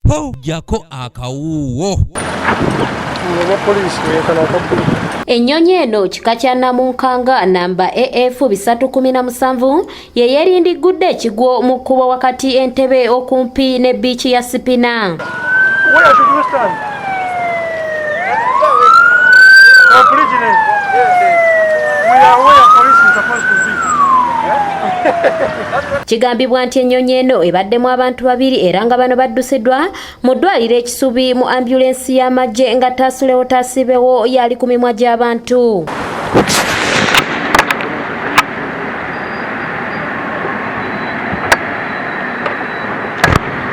po jako akawuwo Ennyonyi eno kika kya Namunkanga namba AF 317 ye yeerindiggudde ekigwo mu kkubo wakati Entebbe okumpi ne bbiici ya Sipina. Kigambibwa nti ennyonyi eno ebaddemu abantu babiri era nga bano baddusiddwa mu ddwaliro ekisubi mu ambulensi y'amagye nga taasulewo taasibewo yali ku mimwa gy'abantu.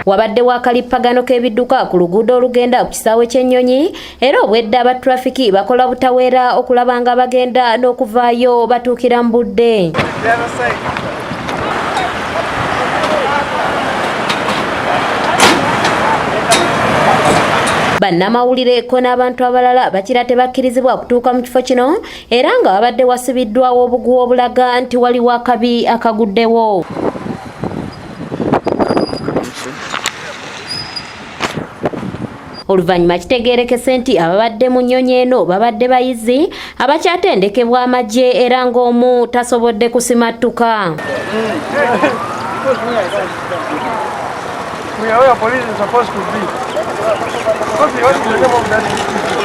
wabaddewo akalippagano k'ebidduka ku luguudo olugenda ku kisaawe ky'ennyonyi era obwedda aba trafiki bakola butaweera okulaba nga bagenda n'okuvaayo batuukira mu budde bannamawulire ko n'abantu abalala bakira tebakkirizibwa kutuuka mu kifo kino era nga wabadde wasibiddwawo obuguwa obulaga nti waliwo akabi akaguddewo Oluvannyuma kitegeerekese nti ababadde mu nnyonyi eno babadde bayizi abakyatendekebwa amagye era ng'omu tasobodde kusimattuka. We are where police is supposed to be. What do you want to do about that?